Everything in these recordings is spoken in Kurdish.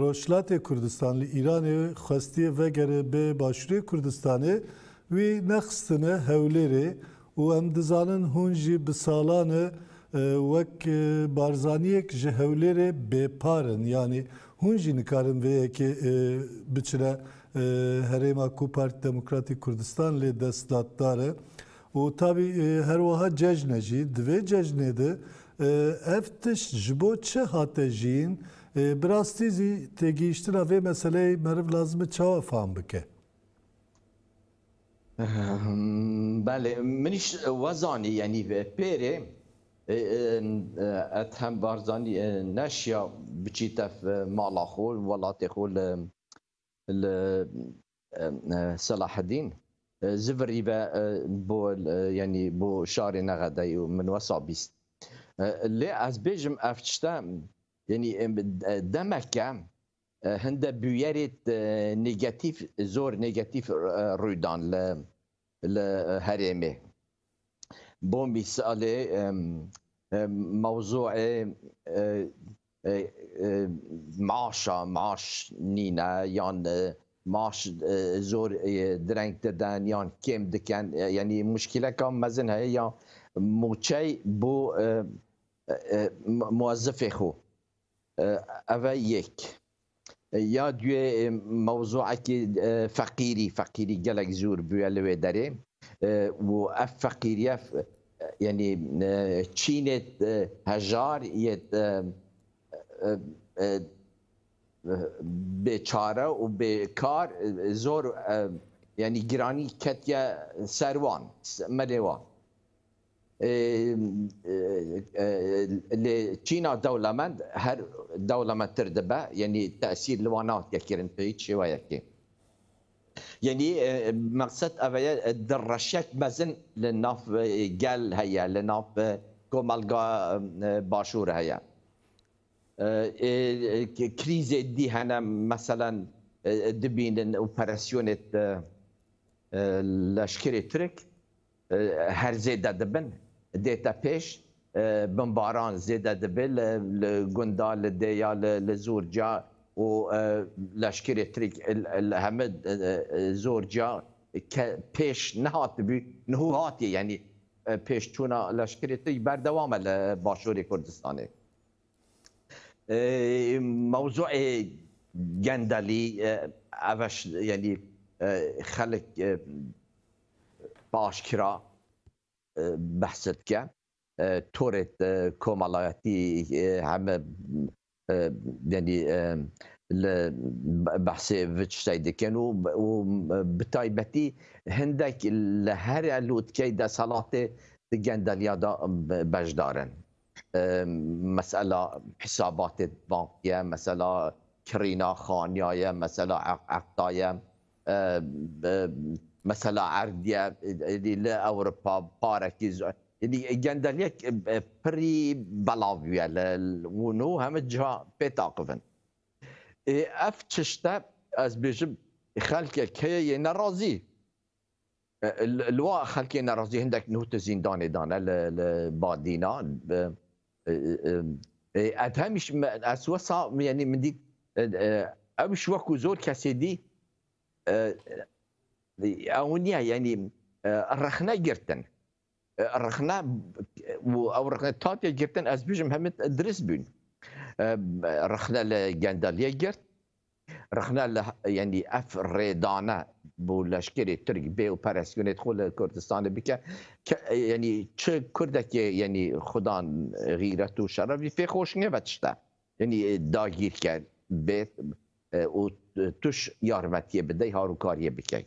Rojhilatê Kurdistan li Îranê xwestiye vegere bê Başûrê Kurdistanê wî nexistine Hewlêrê û em dizanin hûn jî bi salan e wek Barzaniyek ji Hewlêrê bêpar in yanî hûn jî nikarin vê yekê biçine herêma ku Partî Demokratîk Kurdistan lê destdatdar e. Û tabî her wiha cejn e jî. Di vê cejnê de ev tişt ji bo çi hate jiyîn? Bi rastî zî têgihiştina vê meseleyê meriv lazim e çawa fam bike? Belê, min îş we zanî yanî pêrê Ethem Barzanî neşiya biçî tef mala xwe, welatê xwe li Selahedîn zivirî ve bo yanî bo şarê Nexedayê û min wesa bîst. Lê ez bêjim ev tişte yanî demeke hinde bûyerê negatîf zor negatîf rûydan li li herêmê. Bombî Salê mewzûê maaşa maaş nîne yan maaş zor direng didin yan kêm dikin yanî muşkîleka mezin heye ya mûçey bo muezifê xwe. Ev e yek. Ya duyê mewzûekî feqîrî, feqîrî gelek zûr bûye li wê derê û ev feqîriye yanî çînê hejar yê bêçare û bêkar zor yanî giranî ketiye ser wan, melê wan. Lê Çîna dewlemend her dewlemendtir dibe yenî tesîr li wan nake kirin bi hiç şêweyekê. Yenî meqsed ev ye di reşek mezin li nav gel heye li nav komelga başûr heye. Krîzê dî hene meselen dibînin operasyonê leşkerê Tirk Her zêde dibin. Dête pêş bimbaran zêde dibe li gunda, li dêya, li zorca û leşkerê Tirk li heme zorca ke pêş nehatibû niho hatiye yanî pêşçûna leşkerê Tirk berdewam e li başûrê Kurdistanê. Mewzûê gendelî ev e yanî xelk aşkera behs dike torê komalayetî heme yanî li behsê vi tiştayî dikin û bi taybetî hindek li here lotkeyê desthilatê di gendeliya de beşdar in. Mesela hisabatê bankî ye, mesela kirîna xaniya ye, mesela eqda ye, mesela erd ye, êdî li Ewropa parekî zor êdî gendeliyek pirî belav bûye li wan û heme ciha pê taqif in. Ê ev tişte ez bêjim xelkek heye yê nerazî Li wan xelkê nerazî hindek nuh di zîndanê de ne li Badîna. Ev hemîş ez wisa yanî min dît ewş wekû zor kesê dî ew niya yanî rexne girtin. Rixne û ew rixne tatiye girtin ez bijim hemî dirist bûn. Rixne li Gendaliyê girt. Rixne li yenî ev rêdane bo leşkerê Tirk bê û peresyonê xwe li Kurdistanê bike. Yenî çi Kurdekê yenî xudan xîret û şeref vî pê xweş nebe tişte. Yenî dagîrker bê û tuş yarmetiyê bidey harûkariyê bikey.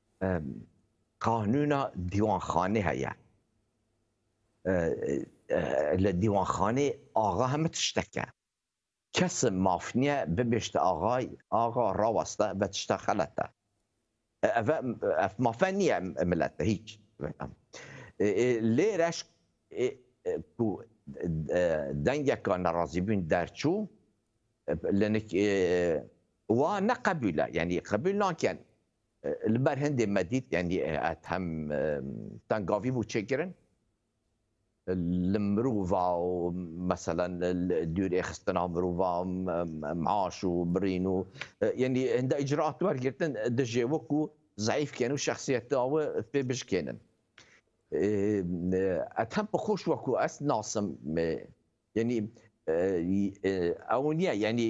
Qanûna dîwanxanê heye. Li dîwanxanê axa hemû tiştek e. Kes maf niye bibêjte axay, axa raweste ve tişta xelet e. Ev ev mafe niye milete hîç. Lê reş ku dengeke nerazîbûn derçû li nik wa ne qebûl e. Yanî qebûl nakin. Li ber hindê me dît yanî hem tengavî bû çêkirin li mirova û meselen dûrêxistina mirova maaş û birîn û yanî hinda îcraat wergirtin dijê we ku zayîf kên û şexsiyeta we fê bijikênin. Ez hem bi xwe ku ez nasim Yanî ew niye yanî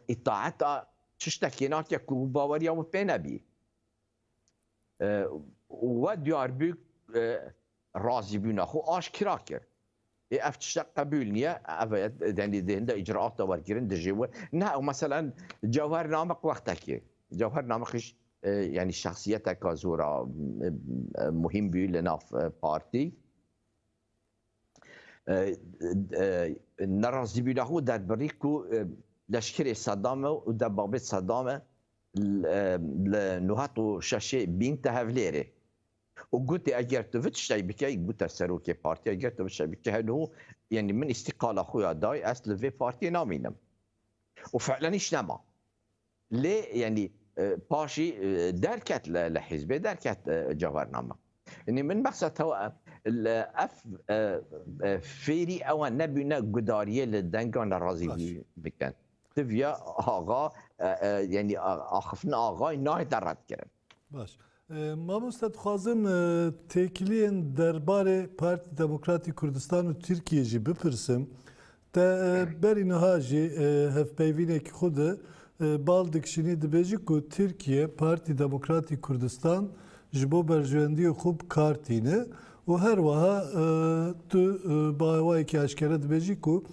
îtaeta tiştekê nake ku baweriya wî pê nebî. We diyar bû razîbûna xwe aşkira kir. Ê ev tiştek qebûl niye ev denî dêhinde îcraata wergirin dijî wê. Ne ew meselen cewher namek wextekê. Cewher namekiş yanî şexsiyeteka zora muhîm bû li nav partî. nerazîbûna xwe derbirî ku leşkerê Sedam e û debabê Sedam e li nû heqq û şeşê bîn te Hevlêrê û gotê eger tu vit ştey bike gote serokê partiya eger tu vit ştey bike heno yenî min îstîqala xwe ya dayê ez li vê partiyê namînim û fe'len îş nema. Lê yanî paşî derket li hîzbê derket cevername. Yanî min behsa te we li ev fêrî ewa nebîne gudariyê li denga nerazî bikin. Ti viya axa yanî axiftina axay nayê te redkirin. Baş. Mamoste dixwazim têkiliyên derbarê Partî Demokratî Kurdistan û Tirkiyê jî bipirsim. Te berî niha jî hevpeyvînekî xwe de bal dikişînî dibêjî ku Tirkiye Partî Demokratî Kurdistan ji bo berjewendiyê xwe bi kar tîne û her wiha tu bawayekî eşkere dibêjî ku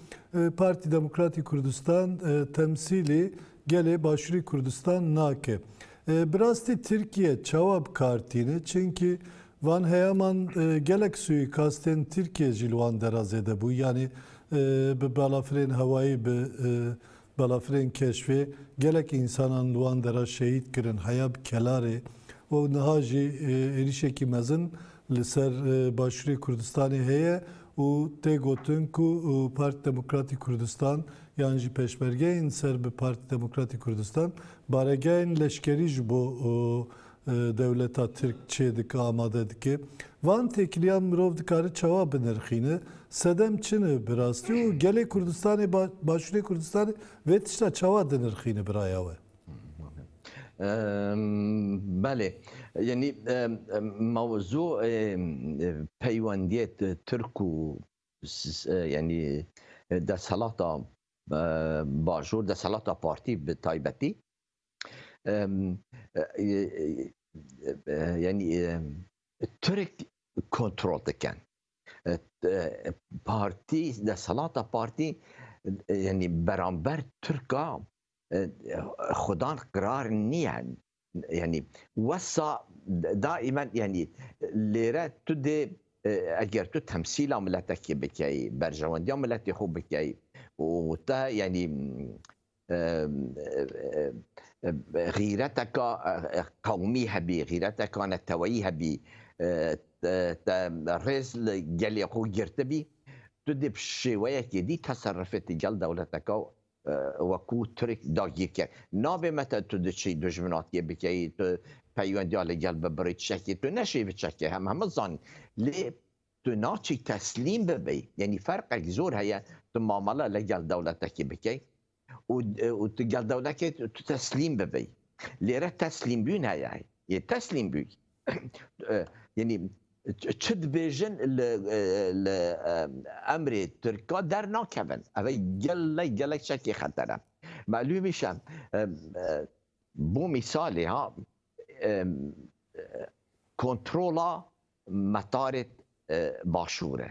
Partî Demokratî Kurdistan temsîlî gelê Başûrî Kurdistan nake. Bi rastî Tirkiye çawa bi kar tîne? Çimkî van heyaman gelek suîkastên Tirkiye jî li wan dera zêde bû. Yanî bi balafirên hewayî, bi balafirên keşfê gelek însanan li wan dera şehîd kirin heya bi kelarê û niha jî êrîşekî mezin li ser başûrê Kurdistanê heye û tê gotin ku Partî Demokratî Kurdistan yan jî peşmergeyên ser bi Partî Demokratî Kurdistan Baregehên leşkerî ji bo dewleta Tirk çê dike, amade dike. Van têkiliyan mirov dikare çawa binirxîne? Sedem çi ne bi rastî û gelê Kurdistanê, Başûrê Kurdistanê vê tişta çawa dinirxîne bi raya we? Belê. Yanî mewzû peywendiyê Tirk û yanî desthelata bajûr desthilata partî bi taybetî yanî Tirk kontrol dikin. Partî desthilata partî yanî beramber Tirka xudan qirar niye Yanî wesa daimen yanî lêre tu dê eger tu temsîla miletekê bikeyî, berjewendiya miletê xwe bikeyî û te yanî xîreteka qewmî hebî, xîreteka neteweyî hebî, te rêz li gelê xwe girtibî, tu dê bi şêweyekê dî teserifê ti gel dewleteka We ku Tirk dagir kir. Nabê me te tu diçî dujminatiyê bikeyî, tu peywendiya li gel bibirî tişekî tu neşê biçekî hem heme zanîn. Lê tu naçî teslîm bibî. Yanî ferqek zor heye tu mamele li gel dewletekî bikey û tu gel dewlekê tu teslîm bibî. Lê re teslîmbûn heye. Yê teslîmbûn. Yenî çi dibêjin li li emrê Tirka dernakevin. Ev gelek gelek çekê xeter e. Melûmî şe bo mîsalê ha kontrola metarê başûr e.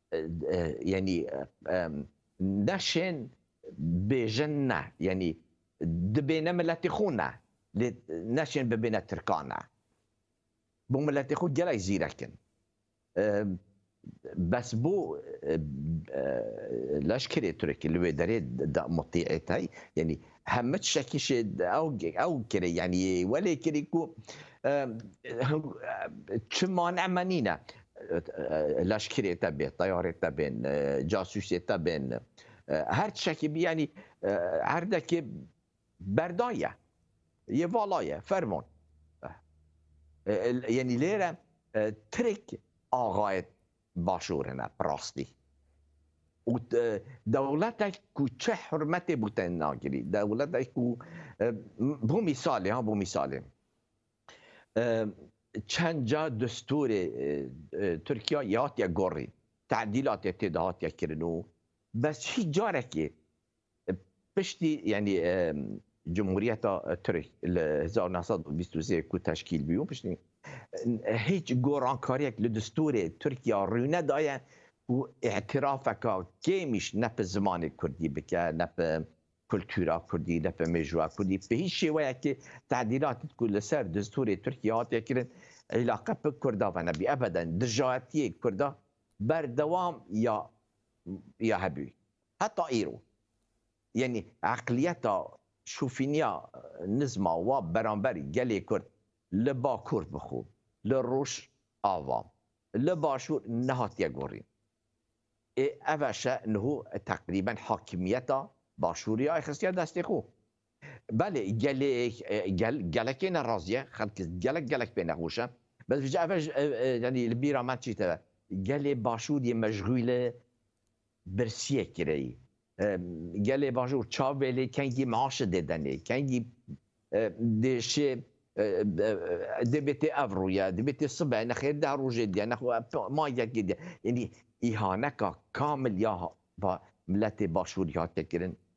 Yanî neşên bêjin ne, yanî dibêne miletê xwe ne, lê neşên bibêne tirkan ne. Bo miletê xwe gelek zîrek in. Bes bo leşkerê Tirk li wê derê de mutîet hey, yanî heme tişekî şê ew kirê yanî welê kirî ku çi mane me nîne leşkerê te bê teyarê te bên casûsê te bên her tişekî bî yanî herdekê berdaye yê valaye ferman yanî lêre tirk axayê Başûrê me bi rastî û dewletek ku çi hurmetê bo te nagirî, dewletek ku bo mîsalê ha bo mîsalê çend ca destûrê Tirkiya ya hatiye gorîn, tedîlatê tê de hatiye kirin û bes hiç carekê Piştî yanî Cumhuriyeta Tirk li hezar û neh sed û bîst û sê ku teşkîl bû piştî hiç gorankariyek li distûrê Tirkiya rû nedaye ku îtirafeke kêmîş ne bi zimanê Kurdî bike ne bi kultura Kurdî ne bi mêjoa Kurdî bi hiç şêweyekê tedîlatî ku li ser distûrê Tirkiyê hatiye kirin îlaqe bi Kurda ve nebî. Ebeden dijaetiyê Kurda berdewam ya hebû. Heta îro yanî eqliyeta şofîniya nizma wa beramber gelê Kurd li Bakur bi xwe li Rojava li Başûr nehatiye gorîn. Ê ev eşe niho teqrîben hakimiyeta Başûrê ya ê xistiye destê xwe. Belê gelê gel gelekê ne razî ye, xelk gelek gelek pê nexweş e. Bes vije ev yanî li bîra me çî teve. Gelê başûr yê meşxûle birsiyek kireyî. Gelê bajûr çavê lê kengî maaşê dê denê, kengî dê şê dê bêtê ev rûye, dê bêtê sibe, nexêr deh rojê diye, nexwe ma yekê diye. Yanî îhaneka kamil ya miletê başûrî hatiye kirin.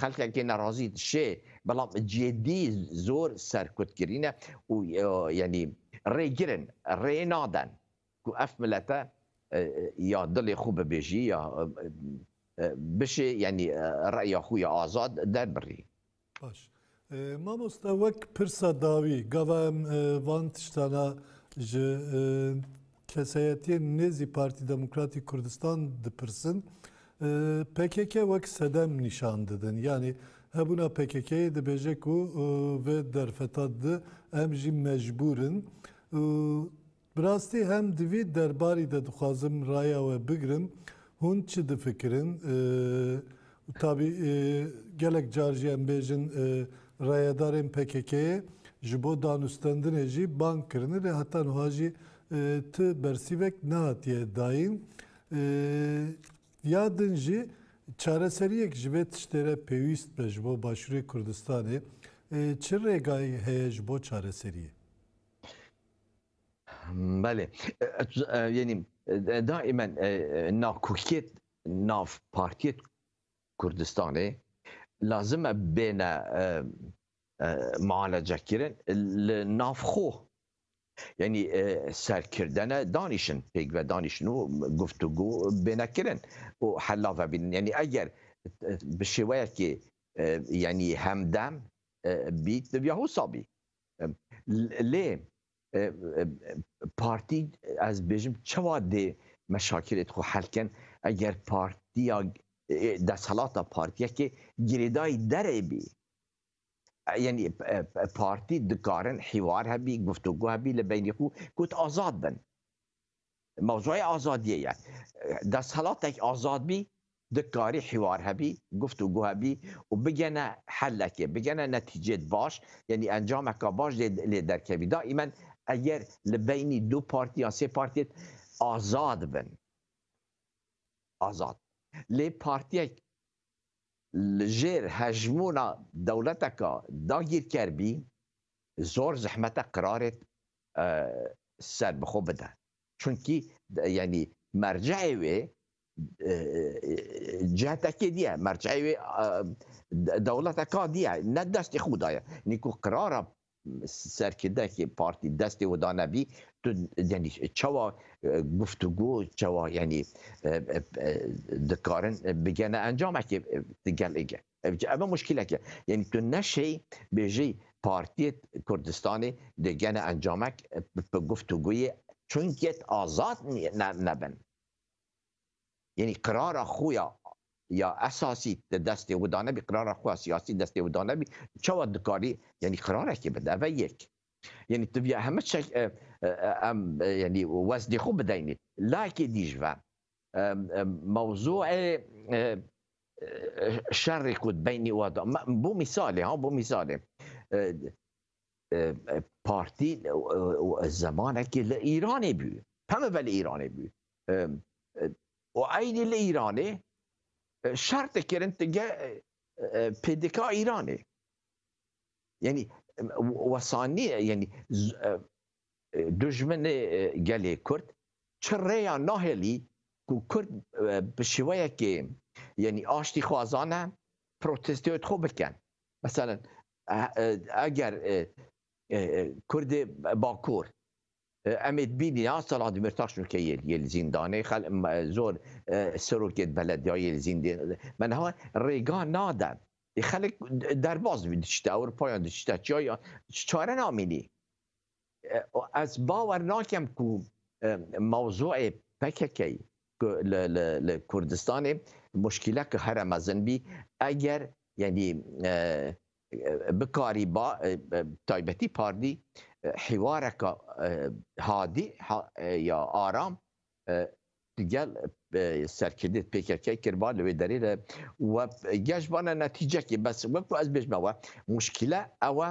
Xelkekê nerazî dişê belam cêdî zor serkutkirî ne û yanî rêgir in, rê naden ku ev milete ya dilê xwe bibêjî ya bişê yanî reya xwe ya azad derbirî. Baş. Mamoste wek pirsa dawî gava em van tiştana ji kesayetiyên nêzî Partî Demokratîk Kurdistan dipirsin. PKK wek sedem nîşan didin. Yanî hebûna PKK'yê dibêje ku vê derfeta di em jî mecbûr in. Bi rastî hem di vî derbarî de dixwazim raya we bigirim, hûn çi difikirin? Û tabî gelek car jî em bêjin rayedarên PKK'ê ji bo danûstendinê jî bang kirine lê heta nuha jî ti bersîvek nehatiye dayîn. Ya din jî çareseriyek ji vê tiştê re pêwîst be ji bo Başûrê Kurdistanê. Çi rêgayî heye ji bo çareseriyê? Belê. Yenî daimen nakokiyet nav partiyê Kurdistanê lazim e bêne mualecekirin li nav xwe. Yenî serkirdene danîşin pêk ve danîşin û guftûgû bêne kirin û hela vebînin. Yenî eger bi şêweyekê yenî hemdem bît divya wisa bî. Lê partî ez dibêjim çawa dê meşakilê xwe hel kin eger partiya desthilata partiyekê girêdayî derê bî. Yenî partî dikarin hîwar hebî, guftugo hebî li beynî xwe ku tu azad bin. Mewzuya azadiyê ye. Desthilatek azad bî, dikarî hîwar hebî, guftûgo hebî û bigene hellekê, bigene netîcêd baş, yanî encameka baş dê lê derkevî. Daîmen eger li beynî du partî yan sê partî hêt azad bin, azad. Lê partîyek li jêr hejmûna dewleteka dagîrker bî, zor zehmet e qirarê ser bi xwe bide. Çunkî yanî merceê wê cihetekê diye, merceê wê dewleteka diye, ne destê xwe daye. Yanî ku qirara serkirdekê partî destê wê dane bî, tu yanî çawa guftûgo, çawa yanî dikarin bigene encamekê di gelê ge. Ev ji ev e muşkîlek e. Yanî tu neşê bêjî Partiyê Kurdistanê dê gene encamek bi guftûgûyê çunkiyet azad nebin. Yanî qirara xwe ya ya esasî di destê we da nebî, qirara xwe ya siyasî destê we da nebî, çawa dikarî yanî qirarekê bide. Ev e yek. Yanî tu vîya heme tişek em yanî wezdê xwe bideynî. Layekê dî ji ve Mewzûê şerê ku di beynî wan de bo mîsalê ha bo mîsalê partî zemanekî li Îranê bû heme ve li Îranê bû û eynî li Îranê şer dikirin tu ge PDK Îranê yenî wesanî yenî Dijminê gelê Kurd çi rêya nahêlî ku Kurd bi şêweyekê yanî aştîxwazan e protesteyot xwe bikin. Meselen eger Kurdê Bakur em ê bînî ya Selahat Demîrtaş nûke yê li zîndanê zor serokê belediyayê li zîndê men ha rêga nade xelk derbas diçite Ewropayan diçite çiyayan çare namînî. Ez bawer nakim ku mewzûê PKK'ê ku li Kurdistanê muşkîleke here mezin bî eger yanî bikarî ba bi taybetî pardî hîwareke hadî ya aram digel serkirdê PKK'ê kirba li wê derê de we geh ji bana netîcekê bes wek ku ez bêjme we muşkîle ew e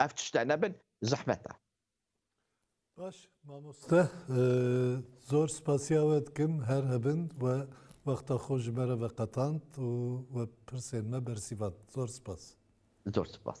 Ev tişte nebin zehmet e. Baş mamoste zor spasiya we dikim her hebin we wexta xwe ji me re veqetand û we pirsên me bersîvand. Zor spas. Zor spas.